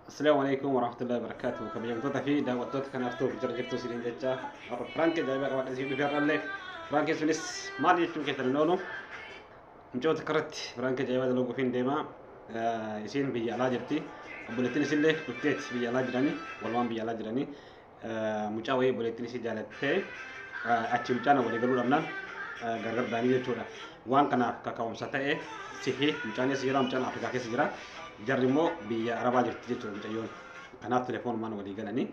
Assalamu alaikum warahmatullahi wabarakatuh. Kabajamtoota fi daawwattoota kanaaf ta'uuf jira jirtu isiniin jecha warra Firaanki ajaa'ibaa qabaadha isin dhufee irraallee Firaanki sunis maal jechuun keessan hin oolu. Micoota karatti Firaanki ajaa'ibaa dalaguu fi hin deemaa isiin biyya alaa jirti. Obboleettiin isillee dhufteetti biyya alaa jiranii walumaan biyya alaa jiranii. mucaa wayii obboleettiin ishee jaalattee achi mucaan walii galuu dhabnaan gargar baanii jechuudha. Waan kanaaf kaka'umsa ta'e sihi mucaan eessa jira mucaan Afrikaa keessa jira jarri immoo biyya Arabaa jirti jechuudha mucayyoon. Kanaaf telefoonumaan walii galanii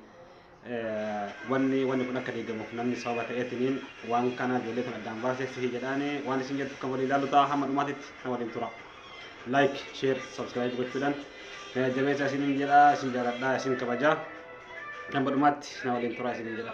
wanni wanni kun akka deegamuuf namni sababa ta'eetiniin waan kana ijoollee kun addaan baasee sihi jedhaanii waan isin jettu kan walii ilaalu ta'a hamma dhumaatitti kan waliin tura. like share subscribe gochuudhaan na jajjabeessa isiniin jedha isin jaaladha isin kabaja kan badhumaatti na waliin turaa isiniin jedha.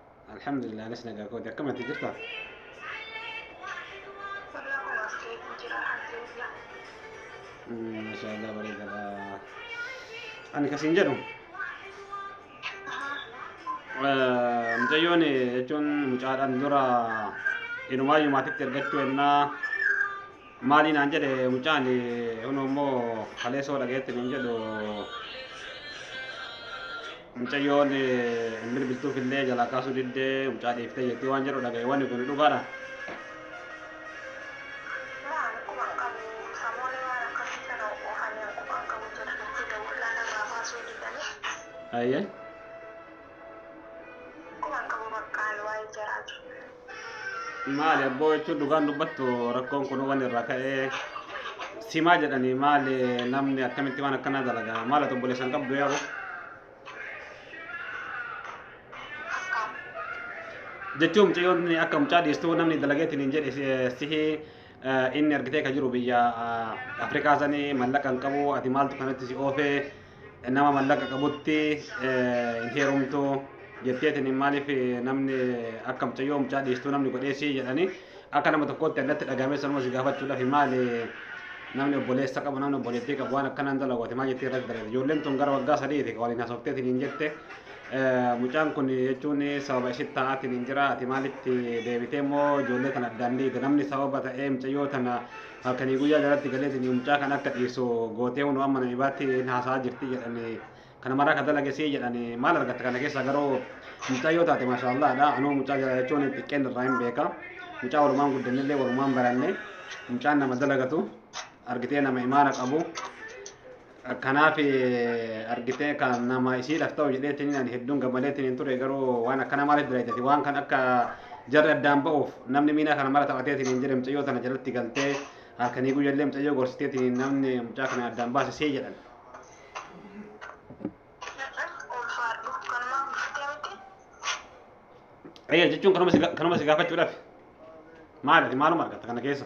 Alhamdulillah anas nagaa kooti akkamatti jirta? Mashaallah bareedadha. Ani kasiin jedhu mucayyoon jechuun mucaadhaan dura inumaayyuu maatitti ergachuu ennaa Maalii naan jedhe mucaan kunoo immoo kaleessoo dhagayetti nuun jedhu mucayyoon hin bilbiltuuf illee jalaa kaasuu diddee mucaa dhiiftee jettii waan jedhu dhagaye wanni kun dhugaadha. Waan quba hin qabu samoonni waan akkasii kana oofan hin quba hin qabu jedha nutti dawwallaa narraa baasuu diddanii. Ayyee. Quba hin qabu baqqaan waa'ee jaraa jiru. Maali abboo jechuun dhugaan dubbattu rakkoon kun waan irraa ka'ee simaa jedhanii maali namni akkamitti waan akkanaa dalagaa maal ati obboleessa hin qabdu yaa'u. Jechuun mucayyoon akka mucaa dhiistuu namni dalageetiin hin jedhe si- sihi eh, inni argitee ka jiru biyya eh, Afrikaa sanii mallaqa hin qabu ati maaltu kanatti si oofee nama mallaqa qabutti hin heerumtu jetteetiin maaliif namni akka mucayyoo mucaa dhiistuu namni godheessi jedhanii akka nama tokkootti addatti dhagahamee sanuma si gaafachuudhaaf maali namni obboleessa qabu namni obboleettii qabu waan akkanaan dalagooti maal jettee irratti dalagde ijoolleen tun gara waggaa sadiiti waliin haasofteetiin hin jette mucaan kun jechuun sababa ishee ta'aatiin hin jira ati maalitti deebitee immoo ijoollee tana addaan dhiite namni sababa ta'ee mucayyoo tana Halkanii guyyaa jalatti galeetiin mucaa kan akka dhiirsu gootee hunoo amma namibaatti hin haasaa jirti jedhanii kana maraa kan dalagesii jedhanii maal argatta kana keessaa garuu mucaa yoo taate maashaallaadha anuu mucaa jala jechuun xiqqeen irraa hin beeka mucaa walumaan guddannillee walumaan baranne mucaan nama dalagatu argitee nama imaana qabu Kanaaf argitee kan nama isiidhaaf ta'u jedheetiin ani hedduun gammadeetiin hin ture garuu waan akkana maaliif dalaydati waan kan akka jarri addaan ba'uuf namni miinaa kana mara taphateetiin hin jedhe mucayyoo tana jalatti galtee halkanii guyyallee mucayyoo gorsiteetiin namni mucaa kana addaan baase see jedhan. Ulfaadhu kanumaan dhuftee miti. Eeyyee jechuun kanuma si ga- kanuma si gaafachuudhaaf maaliif maaluma argatta kana keessa?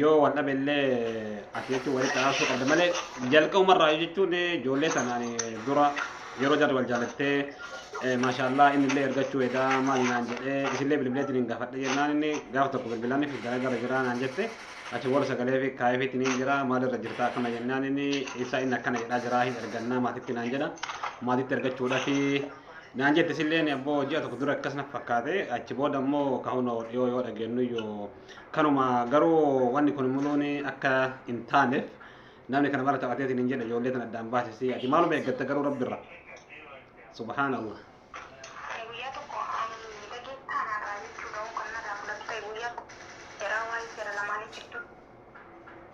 yoo wal dhabe illee ati jechuun walitti araasuu qabda malee jalqabuma irraa jechuun ijoollee tanaan dura yeroo jarri wal jaalattee maashaallaa inni illee ergachuu edaa maali naan jedhee isillee bilbileetiin hin gaafadhe jennaan inni gaaf tokko bilbilaan fi garagara jiraa naan jette achi booda sagalee fi kaayefiitiin hin jira maalirra jirta akkana jennaan inni isaa inni akkana jedhaa jiraa hin ergannaa maatitti naan jedha maatitti ergachuudha fi naan jette isillee abboo ji'a tokko dura akkas na fakkaate achi booda immoo kahuun dhiyoo yoo dhageennu yoo Kanuma garuu wanni kun muluun akka hin taaneef namni kana mara taphateetiin hin jedhe ijoollee tan addaan baasisii ati maaluma eeggatta garuu rabbi irra subhaanallah Ani guyyaa tokko ani dhageettaa naarraa jechuudha hoo kan narraa fudhatu ta'e guyyaa tokko seeraa waa'ee seera lamaanii jidduu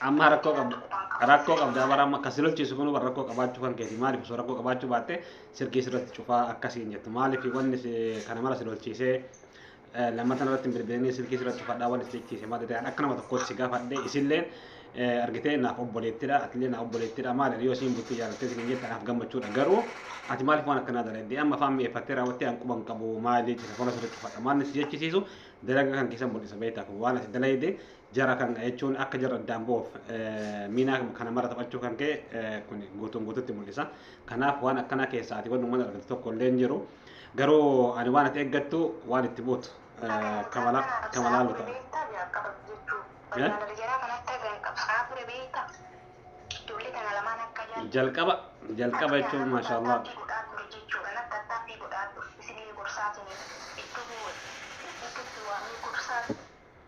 Amma rakkoo qabda. Rakkoo qabda bara amma kasi lolchiisu kun bara rakkoo qabaachuu kan keeti maaliif osoo rakkoo qabaachuu baatte sirgii sirratti cufaa akkasiin jettu maaliif wanni si kana mara si lolchiisee eh, lammatan irratti hin bilbilinii sirgii sirratti cufadhaa wanni si jechiise maal ta'e akka nama tokkootti si gaafadhe isilleen eh, argitee naaf obboleettidha atillee naaf obboleettidha maali yoo siin bultii jaalattee siin jette naaf gammachuudha garuu ati maaliif waan akkanaa dalaydee amma afaan mi'eeffattee raawwattee an quban qabu maali jechuudha fola sirratti cufadha maal si jechisiisu dalaga kan keessan mul'isa beektaa kun waan ati dalayde Jara kan jechuun akka jarri addaan ba'uuf miinaa kana mara taphachuu kan ka'e kun guutuun guututti mul'isa. Kanaaf waan akkanaa keessaa ati waan uummata argatu tokko illee hin jiru. Garuu ani waan ati eeggattu waan itti buutu kamalaa luta. Jalqaba jalqaba jechuun maashaallah.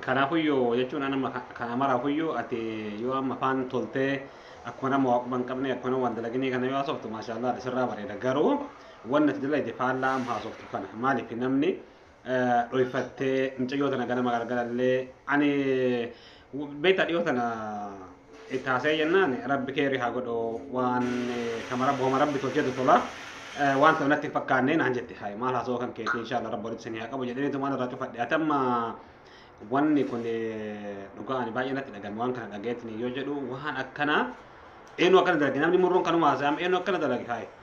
Kanaafuyyuu jechuun an amma kana maraafuyyuu ati yoo amma afaan toltee akkuma nama waaquma hin qabne akkuma nama waan dalaginee kana yoo haasoftu maashaallah ati sirraa bareeda garuu wanni ati dalagde faallaa amma haasoftu kana maaliif namni dhoyfattee mucayyoo tana ganama galgalallee ani beektaa dhiyoo tana itti haasa'ee jennaan rabbi keerri haa godhu waan kama rabbi homa rabbi tolcheetu tola waan ta'u natti hin fakkaanne naan jette hayi maal haasoo kan keetii inshaallah rabbi walitti isin haa qabu jedhanii tumaan irraa cufadhe ati amma wanni kun dhugaa ani baay'ee natti dhagame waan kana dhagayeetiin yoo jedhu waan akkanaa eenyu akkana dalage namni murruun kanuma haasa'am eenyu akkana dalage hayi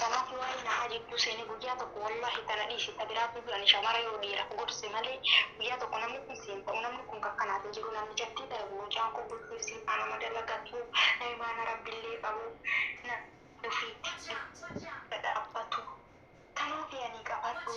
Tanaafi waani nahaa jidduu seene guyyaa tokko wallahi tana dhiisi ta biraa fiigi ani shamara yoo dhiira gorse malee guyyaa tokko namni kun siin ta'u namni kun takka naaf hin jiru namichattii tana mucaan kun bultiif sii faana ma dalagatu naimaana rabbillee qabu na ofiitti dhadhaabbatu tanaafi ani qabadhu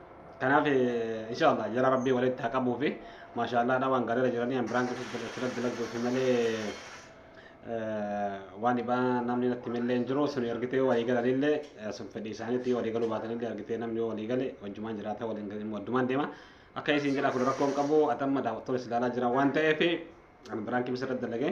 Kanaaf inshallah jara rabbii walitti haa qabuu fi maashaallah dha waan gaariirra jiranii an biraan kutuuf asirratti dalagduuf malee waan dhibaa namni natti millee hin jiru sun ergitee yoo walii galanillee sun fedhii isaaniitti yoo walii galuu baatanillee ergitee namni yoo walii gale wajjumaan jiraata waliin galii wajjumaan deema akka isiin jedhaa kun rakkoo hin qabu atamma daawwattoon is ilaalaa jira waan ta'eef an biraan kimsa irratti dalagee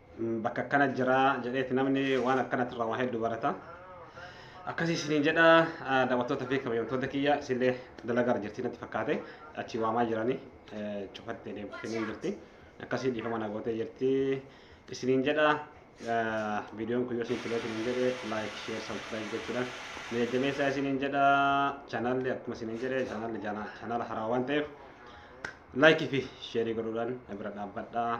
bakka akkana jira jedheeti namni waan akkanatti irraa waa hedduu barata. Akkasii isiniin jedha daawwattoota fi kabajamtoota kiyya isinillee dalagaa irra jirti natti fakkaate achi waamaa jiranii cufattee deemtanii jirti. Akkasii dhiifama na gootee jirti isiniin jedha viidiyoon kun yoo isin tolee isiniin jedhe laayik sheer sabskiraayib gochuudhaan na jajjabeessaa isiniin jedha chaanaalli akkuma isiniin jedhe chaanaalli chaanaala haaraa waan ta'eef laayikii fi sheerii godhuudhaan na bira dhaabbadhaa.